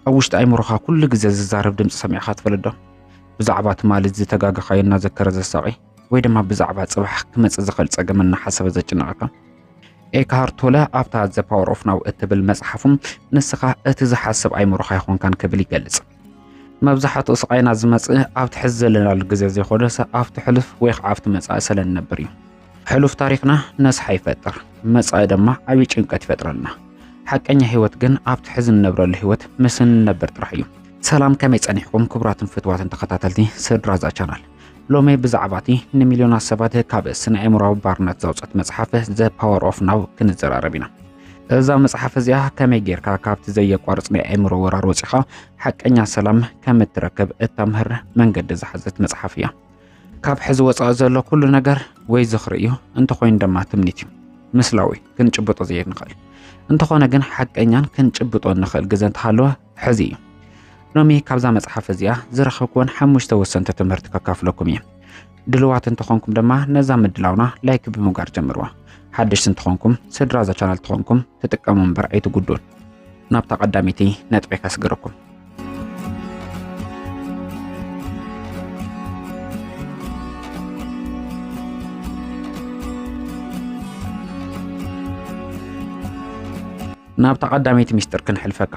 ኣብ ውሽጢ ኣይምሮኻ ኩሉ ግዜ ዝዛረብ ድምፂ ሰሚዕኻ ትፈልጥ ዶ? ብዛዕባ ትማሊ ዝተጋገኻዮ እናዘከረ ዘሳቒ ወይ ድማ ብዛዕባ ፅባሕ ክመፅእ ዝኽእል ፀገም እናሓሰበ ዘጭንቐካ ኤክሃር ቶለ ኣብታ ዘ ፓወር ኦፍ ናው እትብል መፅሓፉም ንስኻ እቲ ዝሓስብ ኣይምሮኻ ይኾንካን ክብል ይገልፅ። መብዛሕትኡ ስቓይና ዝመጽእ ኣብቲ ሕዚ ዘለናሉ ግዜ ዘይኮነስ ኣብቲ ሕሉፍ ወይ ከዓ ኣብቲ መጻኢ ስለ ንነብር እዩ። ሕሉፍ ታሪኽና ነስሓ ይፈጥር፣ መጻኢ ድማ ዓብዪ ጭንቀት ይፈጥረልና። ሓቀኛ ህይወት ግን ኣብቲ ሕዚ ንነብረሉ ህይወት ምስ እንነብር ጥራሕ እዩ። ሰላም ከመይ ጸኒሕኩም ክቡራትን ፍትዋትን ተኸታተልቲ ስድራ እዛ ቻናል ሎሚ ብዛዕባ እቲ ንሚልዮናት ሰባት ካብ ስነ ኣእምሮዊ ባርነት ዘውጸት መጽሓፍ ዘ ፓወር ኦፍ ናው ክንዘራረብ ኢና። እዛ መጽሓፍ እዚኣ ከመይ ጌርካ ካብቲ ዘየቋርጽ ናይ ኣእምሮ ወራር ወጺኻ ሓቀኛ ሰላም ከም እትረክብ እተምህር መንገዲ ዝሓዘት መጽሓፍ እያ። ካብ ሕዚ ወጻኢ ዘሎ ኩሉ ነገር ወይ ዝኽሪ እዩ፣ እንተኾይኑ ድማ ትምኒት እዩ። ምስላዊ ክንጭብጦ ዘይንኽእል እንተኾነ ግን ሓቀኛን ክንጭብጦ እንኽእል ግዘ እንተሃለወ ሕዚ ሎሚ ካብዛ መጽሓፍ እዚኣ ዝረኸብኩዎን ሓሙሽተ ወሰንቲ ትምህርቲ ከካፍለኩም እየ ድልዋት እንተኾንኩም ድማ ነዛ ምድላውና ላይክ ብምጋር ጀምርዋ። ሓደሽቲ እንተኾንኩም ስድራ እዛ ቻናል ተኾንኩም ትጥቀሙ እምበር ኣይትጉዱን። ናብታ ቀዳሚቲ ነጥቢ ከስግረኩም። ናብታ ቀዳመይቲ ሚስጥር ክንሕልፈካ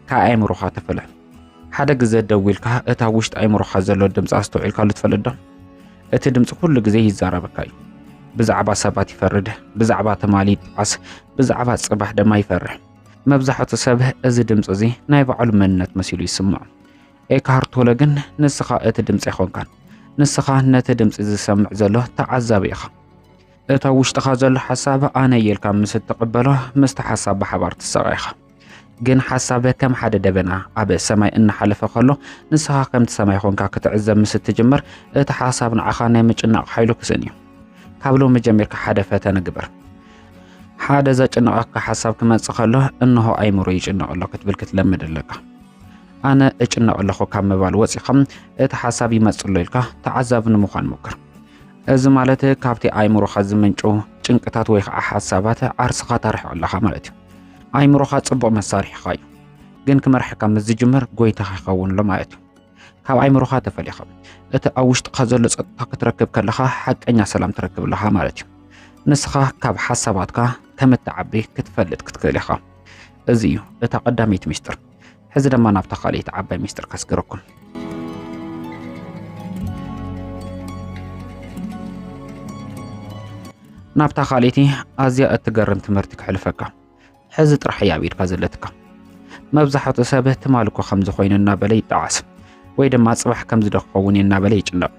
ካብ ኣእምሮኻ ተፈለ ሓደ ግዘ ደው ኢልካ እታ ውሽጢ ኣእምሮኻ ዘሎ ድምፂ ኣስተውዒልካሉ ትፈልጥ ዶ እቲ ድምፂ ኩሉ ግዜ ይዛረበካ እዩ ብዛዕባ ሰባት ይፈርድ ብዛዕባ ትማሊ ይጠዓስ ብዛዕባ ፅባሕ ድማ ይፈርሕ መብዛሕቱ ሰብ እዚ ድምፂ እዚ ናይ ባዕሉ መንነት መሲሉ ይስምዖ ኤካሃር ቶለ ግን ንስኻ እቲ ድምፂ ኣይኮንካን ንስኻ ነቲ ድምፂ ዝሰምዕ ዘሎ ተዓዛቢ ኢኻ እቲ ኣብ ውሽጥኻ ዘሎ ሓሳብ ኣነ እየ ኢልካ ምስ እትቕበሎ ምስቲ ሓሳብ ብሓባር ትሳቐ ኢኻ ግን ሓሳብ ከም ሓደ ደበና ኣብ ሰማይ እናሓለፈ ከሎ ንስኻ ከምቲ ሰማይ ኾንካ ክትዕዘብ ምስ እትጅምር እቲ ሓሳብ ንዓኻ ናይ ምጭናቕ ሓይሉ ክስእን እዩ ካብ ሎሚ ጀሚርካ ሓደ ፈተነ ግበር ሓደ ዘጭንቐካ ሓሳብ ክመጽእ ከሎ እንሆ ኣይምሮ ይጭነቕ ኣሎ ክትብል ክትለምድ ኣለካ ኣነ እጭነቕ ኣለኹ ካብ ምባል ወፂኻ እቲ ሓሳብ ይመፅእ ኣሎ ኢልካ ተዓዛቢ ንምዃን ሞክር እዚ ማለት ካብቲ ኣይምሮኻ ዝምንጩ ጭንቅታት ወይ ከዓ ሓሳባት ዓርስኻ ታርሕቕ ኣለኻ ማለት እዩ። ኣይምሮኻ ጽቡቕ መሳርሒኻ እዩ፣ ግን ክመርሓካ ምስ ዝጅምር ጎይታኻ ይኸውን ኣሎ ማለት እዩ። ካብ ኣይምሮኻ ተፈሊኻ እቲ ኣብ ውሽጥኻ ዘሎ ጸጥታ ክትረክብ ከለኻ ሓቀኛ ሰላም ትረክብ ኣለኻ ማለት እዩ። ንስኻ ካብ ሓሳባትካ ከም እትዓቢ ክትፈልጥ ክትክእል ኢኻ። እዚ እዩ እታ ቀዳመይቲ ምስጢር። ሕዚ ድማ ናብታ ካልእቲ ዓባይ ሚስጥር ከስግረኩም ናብታ ካልእቲ ኣዝያ እትገርም ትምህርቲ ክሕልፈካ ሕዚ ጥራሕ እያ ኣብ ኢድካ ዘለትካ መብዛሕቱ ሰብ ትማል እኮ ከምዚ ኮይኑ እናበለ ይጠዓስ ወይ ድማ ጽባሕ ከምዚ ዶ ክኸውን እዩ እናበለ ይጭነቕ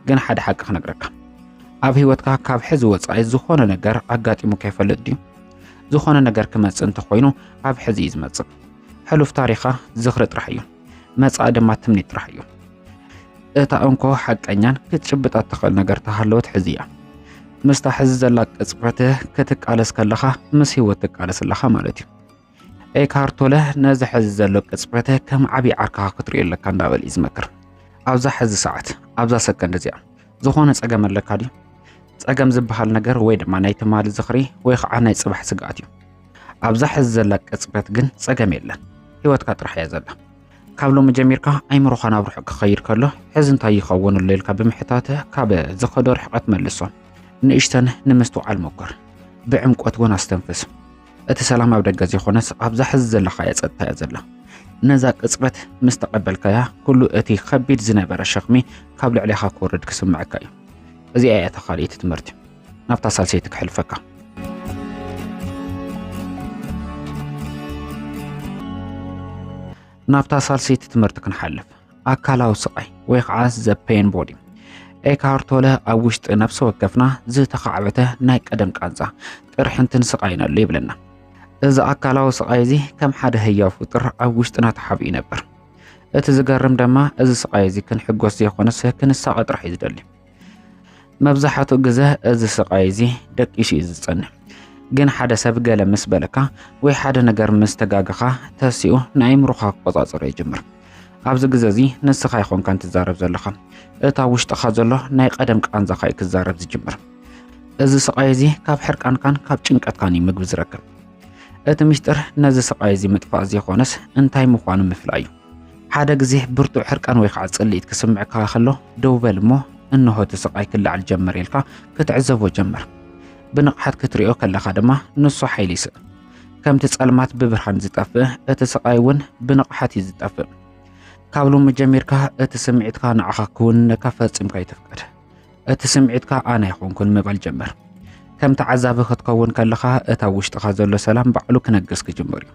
ግን ሓደ ሓቂ ክነግረካ ኣብ ህይወትካ ካብ ሕዚ ወፃኢ ዝኾነ ነገር ኣጋጢሙ ከይፈልጥ ድዩ ዝኾነ ነገር ክመጽእ እንተኾይኑ ኣብ ሕዚ እዩ ዝመጽእ ሕሉፍ ታሪኻ ዝኽሪ ጥራሕ እዩ፣ መጻኢ ድማ ትምኒት ጥራሕ እዩ። እታ እንኮ ሓቀኛን ክትጭብጣ እትኽእል ነገር ተሃለወት ሕዚ እያ። ምስታ ሕዚ ዘላ ቅጽበት ክትቃለስ ከለኻ ምስ ህይወት ትቃለስ ኣለኻ ማለት እዩ። ኤካርቶለ ነዚ ሕዚ ዘሎ ቅጽበት ከም ዓብዪ ዓርካኻ ክትሪኦ ኣለካ እንዳበል እዩ ዝመክር። ኣብዛ ሕዚ ሰዓት ኣብዛ ሰከንድ እዚኣ ዝኾነ ጸገም ኣለካ ድዩ? ጸገም ዝበሃል ነገር ወይ ድማ ናይ ትማሊ ዝኽሪ ወይ ከዓ ናይ ጽባሕ ስግኣት እዩ። ኣብዛ ሕዚ ዘላ ቅጽበት ግን ጸገም የለን ህይወትካ ጥራሕ እያ ዘላ ካብ ሎሚ ጀሚርካ ኣይምሮኻ ናብ ርሑቕ ክኸይድ ከሎ ሕዚ እንታይ ይኸውን ኣሎ ኢልካ ብምሕታት ካብ ዝኸዶ ርሕቐት መልሶ ንእሽተን ንምስትውዓል ሞክር ብዕምቆት እውን ኣስተንፍስ እቲ ሰላም ኣብ ደገ ዘይኮነስ ኣብዛ ሕዚ ዘለኻያ ጸጥታ እያ ዘላ ነዛ ቅጽበት ምስ ተቐበልካያ ኩሉ እቲ ከቢድ ዝነበረ ሸኽሚ ካብ ልዕሌኻ ክወርድ ክስምዐካ እዩ እዚኣ እያ ተኻሊእቲ ትምህርቲ ናብታ ሳልሰይቲ ክሕልፈካ ናብታ ሳልሰይቲ ትምህርቲ ክንሓልፍ ኣካላዊ ስቓይ ወይ ከዓ ዘፔን ቦዲ ኤካርቶለ ኣብ ውሽጢ ነፍሲ ወከፍና ዝተኻዕበተ ናይ ቀደም ቃንዛ ቅርሕንትን ስቓይን ኣሎ ይብለና እዚ ኣካላዊ ስቓይ እዚ ከም ሓደ ህያው ፍጡር ኣብ ውሽጥና ተሓቢኡ ይነብር እቲ ዝገርም ድማ እዚ ስቓይ እዚ ክንሕጎስ ዘይኮነስ ክንሳቐ ጥራሕ እዩ ዝደሊ መብዛሕትኡ ግዘ እዚ ስቃይ እዚ ደቂሱ እዩ ዝፀንሕ። ግን ሓደ ሰብ ገለ ምስ በለካ ወይ ሓደ ነገር ምስ ተጋገኻ ተሲኡ ንኣይምሮኻ ክቆፃፀሮ ይጅምር። ኣብዚ ግዘ እዚ ንስኻ ይኾንካን ትዛረብ ዘለኻ እታ ውሽጥኻ ዘሎ ናይ ቀደም ቃንዛኻ እዩ ክዛረብ ዝጅምር። እዚ ስቃይ እዚ ካብ ሕርቃንካን ካብ ጭንቀትካን እዩ ምግቢ ዝረክብ። እቲ ምስጢር ነዚ ስቃይ እዚ ምጥፋእ ዘይኾነስ እንታይ ምዃኑ ምፍላይ እዩ። ሓደ ግዜ ብርቱዕ ሕርቃን ወይ ከዓ ጽልኢት ክስምዕካ ከሎ ደው በል እሞ እንሆ እቲ ስቃይ ክለዓል ጀመር ኢልካ ክትዕዘቦ ጀመር። ብንቕሓት ክትሪኦ ከለኻ ድማ ንሱ ሓይሊ ይስእ። ከምቲ ጸልማት ብብርሃን ዝጠፍእ እቲ ስቃይ እውን ብንቕሓት እዩ ዝጠፍእ። ካብ ሎሚ ጀሚርካ እቲ ስምዒትካ ንዓኻ ክውንነካ ፈጺምካ ይትፍቀድ። እቲ ስምዒትካ ኣነ ኣይኮንኩን ምባል ጀመር። ከም ተዓዛቢ ክትከውን ከለኻ እታ ውሽጥኻ ዘሎ ሰላም ባዕሉ ክነግስ ክጅምር እዩ።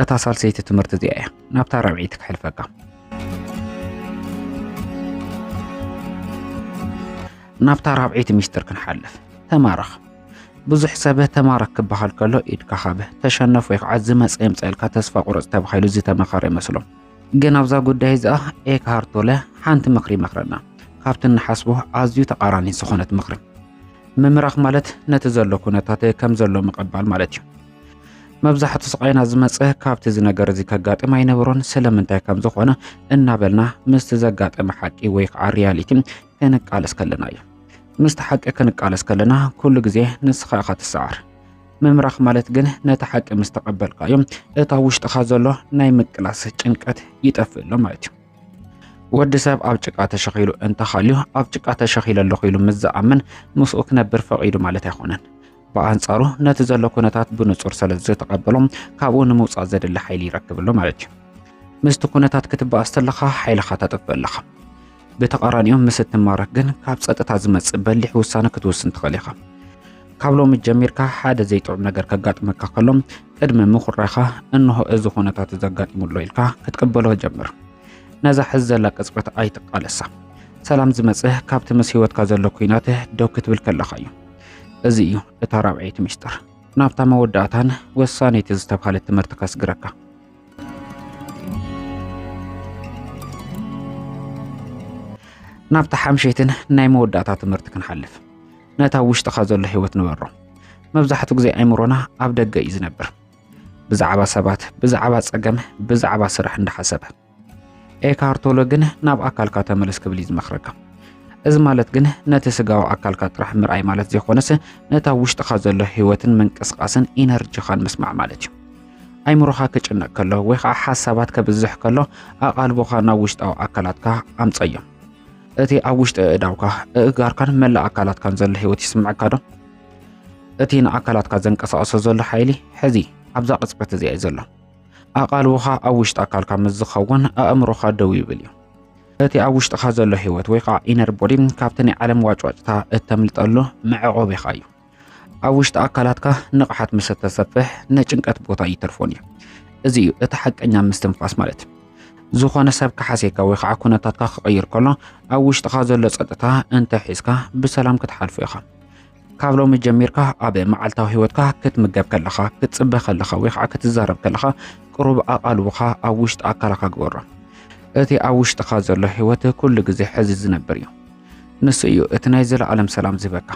እታ ሳልሰይቲ ትምህርቲ እዚኣ እያ ናብታ ራብዒይቲ ክሕልፈካ። ናብታ ራብዒይቲ ሚስጥር ክንሓልፍ ተማረኽ ብዙሕ ሰብ ተማረክ ክበሃል ከሎ ኢድካ ካብ ተሸነፍ ወይ ከዓ ዝመፀ የምፀልካ ተስፋ ቁረፅ ተባሂሉ ዝተመኸረ ይመስሎም ግን ኣብዛ ጉዳይ እዚኣ ኤክሃርት ቶለ ሓንቲ ምኽሪ ይመኽረና ካብቲ እንሓስቦ ኣዝዩ ተቃራኒ ዝኾነት ምኽሪ ምምራኽ ማለት ነቲ ዘሎ ኩነታት ከም ዘሎ ምቕባል ማለት እዩ መብዛሕቱ ስቃይና ዝመፀ ካብቲ እዚ ነገር እዚ ከጋጥም ኣይነበሮን ስለምንታይ ከም ዝኾነ እናበልና ምስቲ ዘጋጠመ ሓቂ ወይ ከዓ ሪያሊቲ ክንቃለስ ከለና እዩ ምስቲ ሓቂ ክንቃለስ ከለና ኩሉ ግዜ ንስኻ ኢኻ ትሰዓር ምምራኽ ማለት ግን ነቲ ሓቂ ምስ ተቐበልካዮ እታ ውሽጥኻ ዘሎ ናይ ምቅላስ ጭንቀት ይጠፍእ ኣሎ ማለት እዩ። ወዲ ሰብ ኣብ ጭቃ ተሸኺሉ እንተኻልዩ ኣብ ጭቃ ተሸኺለ ኣለኹ ኢሉ ምስ ዝኣምን ምስኡ ክነብር ፈቒዱ ማለት ኣይኮነን። ብኣንጻሩ ነቲ ዘሎ ኩነታት ብንጹር ስለ ዝተቐበሎ ካብኡ ንምውጻእ ዘድሊ ሓይሊ ይረክብ ኣሎ ማለት እዩ። ምስቲ ኩነታት ክትበኣስ ተለኻ ሓይልኻ ተጥፍእ ኣለኻ። ብተቓራኒኡ ምስ እትማረኽ ግን ካብ ጸጥታ ዝመጽእ በሊሕ ውሳነ ክትውስን ትኽእል ኢኻ። ካብ ሎሚ ጀሚርካ ሓደ ዘይጥዑም ነገር ከጋጥመካ ከሎ ቅድሚ ምኹራኻ እንሆ እዚ ኩነታት እዚ ኣጋጢሙሎ ኢልካ ክትቅበሎ ጀምር። ነዛ ሕዚ ዘላ ቅጽበት ኣይትቃለሳ። ሰላም ዝመጽእ ካብቲ ምስ ህይወትካ ዘሎ ኩናት ደው ክትብል ከለኻ እዩ። እዚ እዩ እታ ራብዐይቲ ምስጢር ናብታ መወዳእታን ወሳነይቲ ዝተብሃለት ትምህርቲ ከስግረካ። ናብታ ሓምሸይትን ናይ መወዳእታ ትምህርቲ ክንሓልፍ ነታ ውሽጥኻ ዘሎ ህይወት ንበሮ መብዛሕትኡ ግዜ ኣይምሮና ኣብ ደገ እዩ ዝነብር ብዛዕባ ሰባት ብዛዕባ ጸገም ብዛዕባ ስራሕ እንዳሓሰበ ኤካርቶሎ ግን ናብ ኣካልካ ተመለስ ክብል እዩ ዝመኽረካ እዚ ማለት ግን ነቲ ስጋዊ ኣካልካ ጥራሕ ምርኣይ ማለት ዘይኮነስ ነታ ውሽጥኻ ዘሎ ህይወትን ምንቅስቃስን ኢነርጂኻን ምስማዕ ማለት እዩ ኣይምሮኻ ክጭነቅ ከሎ ወይ ከዓ ሓሳባት ከብዝሕ ከሎ ኣቓልቦኻ ናብ ውሽጣዊ ኣካላትካ ኣምፀዮ። እቲ ኣብ ውሽጢ እእዳውካ፣ እእጋርካን መላእ ኣካላትካን ዘሎ ህይወት ይስምዐካ ዶ? እቲ ንኣካላትካ ዘንቀሳቕሶ ዘሎ ሓይሊ ሕዚ ኣብዛ ቅፅበት እዚኣ እዩ ዘሎ። ኣቓልቦኻ ኣብ ውሽጢ ኣካልካ ምስ ዝኸውን ኣእምሮኻ ደው ይብል እዩ። እቲ ኣብ ውሽጥኻ ዘሎ ህይወት ወይ ከዓ ኢነር ቦዲ ካብቲ ናይ ዓለም ዋጭዋጭታ እተምልጠሉ መዕቆቢኻ እዩ። ኣብ ውሽጢ ኣካላትካ ንቕሓት ምስ እተሰፍሕ ናይ ጭንቀት ቦታ ይተርፎን እዩ እዚ እዩ እቲ ሓቀኛ ምስትንፋስ ማለት ዝኾነ ሰብ ክሓሴካ ወይ ከዓ ኩነታትካ ክቕይር ከሎ ኣብ ውሽጥኻ ዘሎ ፀጥታ እንተ ሒዝካ ብሰላም ክትሓልፎ ኢኻ ካብ ሎሚ ጀሚርካ ኣብ መዓልታዊ ህይወትካ ክትምገብ ከለኻ ክትፅበ ከለኻ ወይ ከዓ ክትዛረብ ከለኻ ቅሩብ ኣቓልቦኻ ኣብ ውሽጢ ኣካላካ ግበሮ እቲ ኣብ ውሽጥኻ ዘሎ ህይወት ኩሉ ግዜ ሕዚ ዝነብር እዩ ንሱ እዩ እቲ ናይ ዘለዓለም ሰላም ዝህበካ።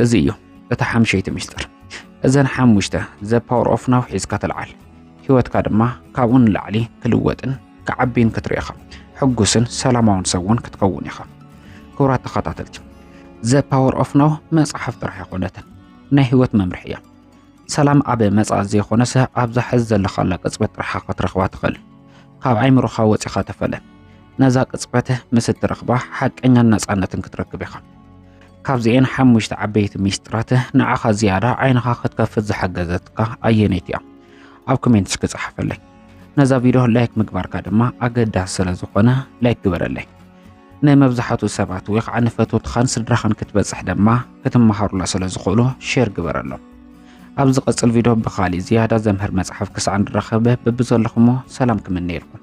እዚ እዩ እቲ ሓምሸይቲ ምስጢር። እዘን ሓሙሽተ ዘ ፓወር ኦፍ ናው ሒዝካ ተልዓል። ህይወትካ ድማ ካብኡ ንላዕሊ ክልወጥን ክዓቢን ክትርኢ ኢኻ። ሕጉስን ሰላማውን ሰብ እውን ክትከውን ኢኻ። ክቡራት ተኸታተልቲ ዘ ፓወር ኦፍ ናው መጽሓፍ ጥራሕ ኣይኮነትን፣ ናይ ህይወት መምርሒ እያ። ሰላም ኣብ መጻኢ ዘይኮነስ ኣብዛ ሕዚ ዘለኻላ ቅጽበት ጥራሓ ክትረኽባ ትኽእል። ካብ ኣይምሮኻ ወጺኻ ተፈለ። ነዛ ቅጽበት ምስ እትረኽባ ሓቀኛን ነጻነትን ክትረክብ ኢኻ። ካብዚኤን ሓሙሽተ ዓበይቲ ሚስጥራት ንዓኻ ዝያዳ ዓይንኻ ክትከፍት ዝሓገዘትካ ኣየነይቲ እያ? ኣብ ኮሜንት እስኪ ጸሓፈለይ። ነዛ ቪድዮ ላይክ ምግባርካ ድማ ኣገዳሲ ስለ ዝኾነ ላይክ ግበረለይ። ንመብዛሕትኡ ሰባት ወይ ከዓ ንፈተውትኻን ስድራኻን ክትበፅሕ ድማ ክትመሃሩላ ስለ ዝኽእሉ ሼር ግበረሎም። ኣብ ዝቐፅል ቪድዮ ብኻሊእ ዝያዳ ዘምህር መፅሓፍ ክሳዕ ንራኸብ ብብዘለኹሞ ሰላም ክምነየልኩም።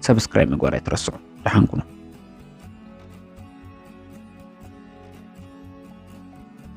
ሰብስክራይብ ምግባር ኣይትረስዑ። ደሓን ኩኑ።